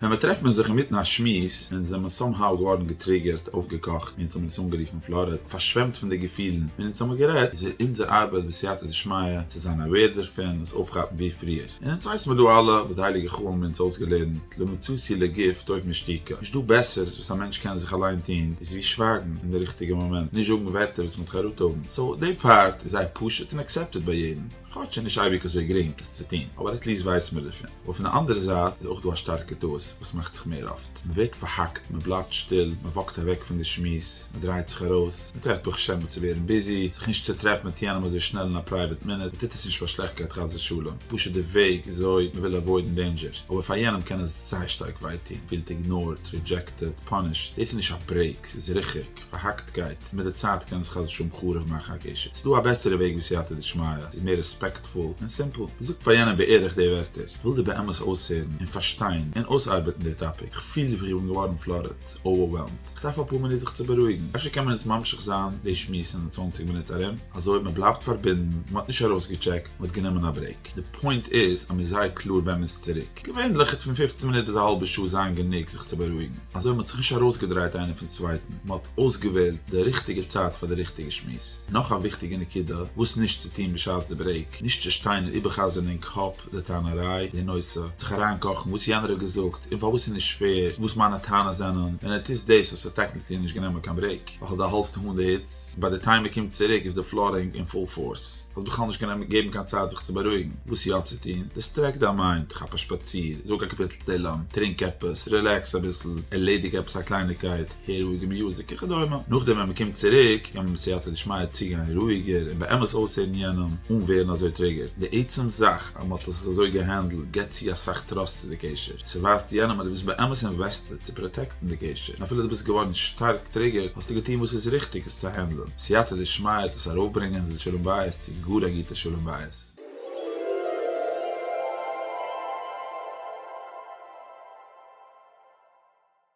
ווען מען טרעפט מען זיך אינמיטן א שמועס און זעמער סאם האו געווארן געטריגערט, אויפגעקאכט, אונז האבן עס אנגערופן פלארעט, פארשוועמט פון די געפילן ווען אונז האבן גערעדט, איז אונזער ארבייט בסייעתא דשמיא צו זיין אוועיר דערפון, עס אויפכאפן ווי פריער. און אונז ווייסן מיר דא אלע וואס די הייליגע חוה מ האבן אונז אויסגעלערנט, לא מצאתי לגוף טוב משתיקה, נישט דא בעסערס וואס א מענטש קען זיך אליין טון איז ווי שווייגן אין די ריכטיגע מאמענט, נישט זאגן ווערטער וואס מען האט חרטה האבן, סאו די פארט איז זייער פשוט און עקסעפטעד ביי יעדן. כאטש ס'איז נישט אייביג אזוי גרינג עס צו טון, אבער עט ליעסט ווייסן מיר דערפון. אבער פון די אנדערע זייט איז אויך דא א שטארקע טעות וואס מאכט זיך מער אפט, מען ווערט פארהאקט, מען בלייבט שטיל, מען וואקט אוועק פון די שמועס, מען דרייט זיך ארויס, מען טרעפט פאר חשבונות צו ווערן ביזי, זיך נישט צו טרעפן מיט יענעם אזוי שנעל אין א פרייוועט מינוט, מען טוט עס נישט פאר שלעכטקייט חס ושלום, פשוט די וועג וויאזוי מען וויל עוואוידן דעינדזשער, אבער פאר יענעם קען עס זייער שטארק וויי טון, פילט איגנארט, רידזשעקטעד, פאנישט, דאס איז נישט א ברעיק, ס'איז ריחוק. פארהאקט גייט מיט די צייט קען עס חס ושלום חרוב מאכן א קשר, ס'דא א בעסערע וועג ווי סייעתא דשמיא, ס'איז מער רעספעקטפול און סימפל, זאג פאר יענעם בערך די ווערטער, כ'וויל דיר באמת אויסהערן און פארשטיין און אויסארבעטן די טאפיק, כ'פיל ווי כ'בין געווארן פלארעד, אווערוועלמד, כ'דארף אפאר מינוט זיך צו בארואיגן, אפשר קען מען יעצט ממשיך זיין די שמועס אין צוואנציג מינוט ארום, אזוי מען בלייבט פארבינדן, מען האט נישט ארויסגעטשעקט, מען האט גענומען א ברעיק. די פוינט איז אז מ'איז זייער קלאר ווען מ'איז צוריק. געווענליך איז פון פופצן מינוט ביז א האלבע שעה זיין גענוג זיך צו בארואיגן, אזוי מ'האט זיך נישט ארויסגעדרייט איינער פון צווייטן, מ'האט אויסגעוועלט די ריכטיגע צייט פאר די ריכטיגע שמועס. נאך א וויכטיגע נקודה וואס נישט צו טון בשעת די ברעיק, נישט צו שטיין און איבער'חזר'ן אין קאפ די טענה'ריי, די נושא, זיך אריינקאכן וואס יענער האט געזאגט און פארוואס ס'איז נישט פעיר, וואס מיינע טענות זענען, ווען ער טוט דאס האסטו טעקניקלי נישט גענומען קיין ברעיק, ווייל דו האלסט אהן די היץ, ביי די טיים מ'קומט צוריק איז די פלארינג אין פול פארס. האסט בכלל נישט גענומען געבן קיין צייט זיך צו בארואיגן, וואס יא צו טון, דיסטרעקט דיין מיינד, כאפ א שפאציר, זאג א קאפיטל תהלים, טרינק עפעס, רילעקס אביסל, ערלעדיג עפעס א קלייניקייט, הער רואיגע מיוזיק וכדומה, נאכדעם ווען מ'קומט צוריק קען מען מיט סייעתא דשמיא צוגיין רואיגער און באמת אויסהערן יענעם אן ווערן אזוי טריגערד, די עצם זאך אז מ'האט עס אזוי געהענדלט גיבט צו אסאך טראסט צו די קשר, ס'ווייזט יענעם אז דו ביסט באמת אינוועסטעד צו פראטעקטן די קשר, און אפילו דו ביסט געווארן שטארק טריגערד האסטו געטון וואס איז ריכטיג עס צו הענדלן. סייעתא דשמיא האט עס ארויפברענגען זיל שלום בית צו גאר א גוטע שלום בית.